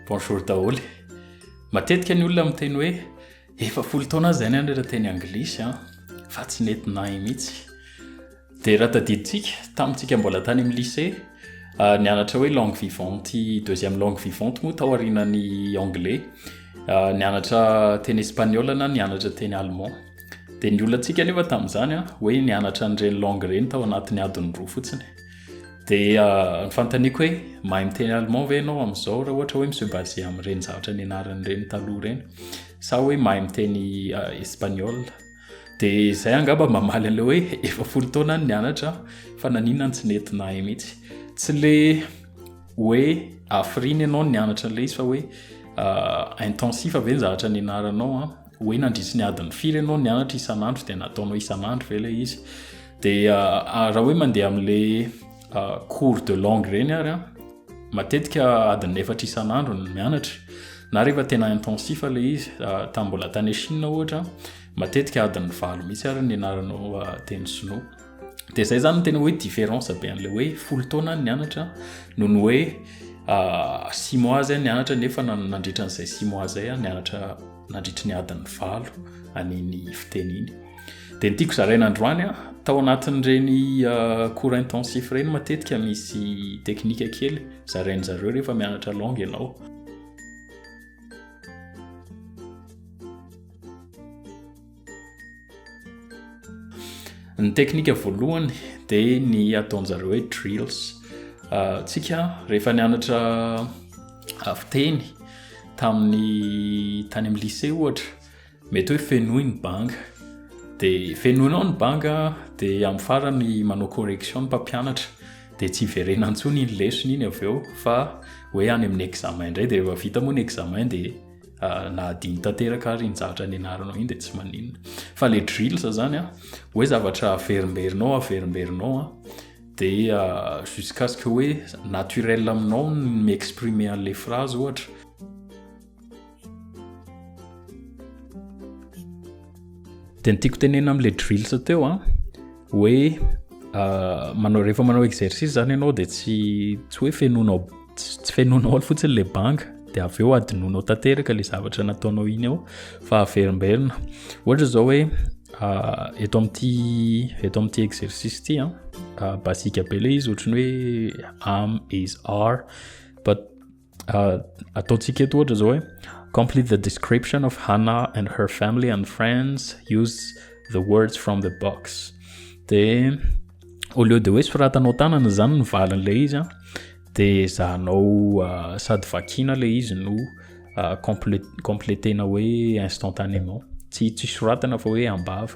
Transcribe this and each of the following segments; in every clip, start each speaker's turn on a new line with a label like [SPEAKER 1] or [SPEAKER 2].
[SPEAKER 1] Bonjour daholo. Matetika ny olona miteny hoe efa folo taona azy zany anatra teny anglisy an fa tsy nety nahy mihitsy. Dia raha tadidintsika tamintsika mbola tany amin'ny lycée ah, nianatra hoe langue vivante deuxième langue vivante moa tao arinan'ny anglais ah, nianatra teny espagnol na nianatra teny allemand. Dia ny olantsika nefa tamin'izany an hoe nianatra an'ireny langue ireny tao anatin'ny adiny roa fotsiny. Dia ny fanontaniako hoe mahay miteny allemand ve ianao amin'izao raha ohatra hoe mi-se baser amin'ireny zavatra nianarana ireny taloha ireny sa hoe mahay miteny espagnol dia izay angamba mamaly an'ilay hoe efa folo taona ny nianatra fa nanina ny tsy nety nahay mihitsy tsy le hoe afiriny ianao ny nianatra an'ilay izy fa hoe intensif ve ny zavatra nianaranao a hoe nandritry ny adiny firy ianao nianatra isan'andro dia nataonao isan'andro ve ilay izy Dia ah, raha hoe mandeha amin'ilay ah, cours de langue ireny ary an, matetika adin'ny efatra isan'andro ny mianatra na rehefa tena intensif ilay izy ah, tamin'ny mbola tany Chine ohatra matetika adin'ny valo mihitsy ary ny anaranao teny sinoa dia izay zany tena hoe différence be an'ilay hoe folo taona ny anatra no ny hoe six mois zay ny anatra nefa nandritra an'izay six mois zay ny anatra nandritry ny adin'ny valo an'iny fiteny iny Dia ny tiako zaraina androany an, tao anatin'ireny euh, cours intensif ireny matetika misy teknika kely zarainy zareo rehefa mianatra langue ianao. Ny teknika voalohany dia ny ataonjareo hoe drills. Euh, tsika rehefa nianatra avy teny tamin'ny tany amin'ny lycée ohatra Mety hoe fenoy ny banga. Dia fenoinao ny banga, dia amin'ny farany manao correction ny mpampianatra. Dia tsy hiverena intsony iny lesona iny avy eo fa hoe any amin'ny examen indray. Dia rehefa vita moa ny examen dia ah, na adino tanteraka ary iny zavatra nianaranao iny dia tsy maninona. Fa ilay drills izany an, hoe zavatra averimberinao, averimberinao an, dia ah, jusqu'à ce que hoe naturel aminao ny mi-exprimer an'ilay phrase ohatra. dia ny tiako tenena amin'ilay drills teo a hoe manao rehefa manao exercice zany ianao dia tsy tsy hoe fenonao tsy fenonao ao fotsiny ilay banga dia avy eo adinonao tanteraka ilay zavatra nataonao iny ao fa averimberina ohatra izao hoe eto amin'ity eto amin'ity exercice ity a basika be ilay izy ohatran'ny hoe am is are but Uh, ataontsika eto ohatra zao hoe complete the description of Hannah and her family and friends use the words from the box de au lieu de hoe soratanao tanana zany ny valin'ilay izy an de zahanao uh, sady vakina ilay izy no uh, complétena hoe instantanément tsy tsy soratana fa hoe ambava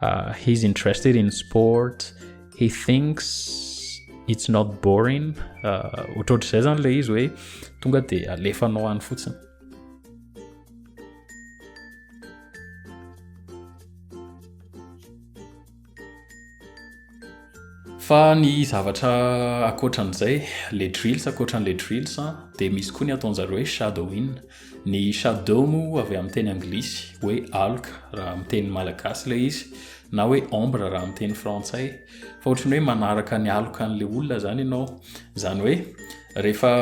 [SPEAKER 1] Uh, he's interested in sport, he thinks it's not boring. Uh, ohatrohatr'izay zany le izy hoe tonga de alefanao any fotsiny. Fa ny zavatra ankoatran'izay, le drills ankoatran'le drills dia misy koa ny ataon'zareo hoe shadowing. Ny shadow moa avy amin'ny teny anglisy hoe aloka raha amin'ny teny malagasy ilay izy na hoe ombre raha amin'ny teny frantsay. Fa ohatry ny hoe manaraka ny aloka an'le olona izany ianao. Izany hoe rehefa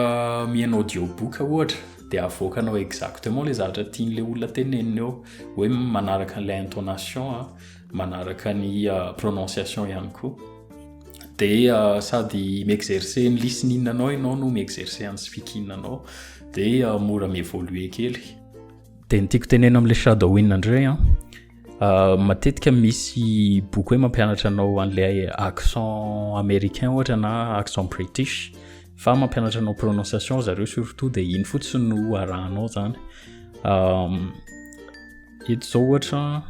[SPEAKER 1] mihaino audiobook ohatra dia avoakanao exactement ilay zavatra tian'ilay olona tenenina eo, hoe manaraka an'ilay intonation. manaraka ny prononciation ihany koa dia sady mi-exercer ny listening anao ianao no mi-exercer an'ny speaking anao dia mora mi-évoluer kely dia ny tiako tenena amin'ilay shadow win indray an matetika misy boky hoe mampianatra anao an'ilay accent américain ohatra na accent british fa mampianatra anao prononciation zareo surtout dia iny fotsiny no arahanao zany eto zao ohatra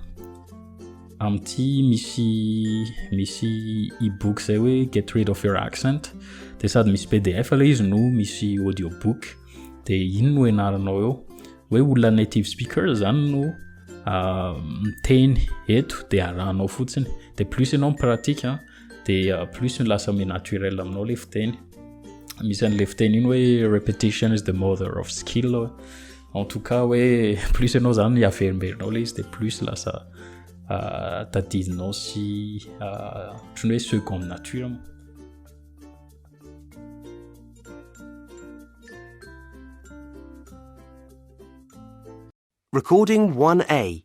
[SPEAKER 1] amin'ity misy misy ebook zay hoe get rid of your accent de sady misy pdf ilay izy no misy audio book de iny no enaranao eo hoe olona native speaker zany no ah, miteny eto de arahanao fotsiny de plus ianao mipratique ah, de ah, plus ny lasa mi naturel aminao le fiteny misy an'le fiteny iny hoe repetition is the mother of skill en tout cas hoe plus ianao zany averimberinao le izy de plus lasa ah, tadidinao sy ah, otrany hoe seconde nature mo
[SPEAKER 2] Recording 1A.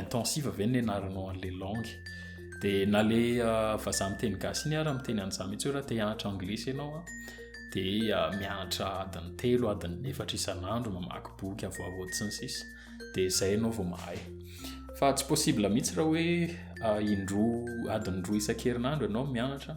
[SPEAKER 1] intensive ve ny nianaranao an'ilay langue dia na le ah, vazaha miteny gasy iny ara miteny an'izah mihitsy hoe raha te hianatra anglisy ianao a dia ah, mianatra adiny telo adiny efatra isan'andro mamaky boky avoavo sy ny sisa dia izay ianao vao mahay fa tsy possible mihitsy raha hoe ah, indroa adiny roa isan-kerinandro ianao mianatra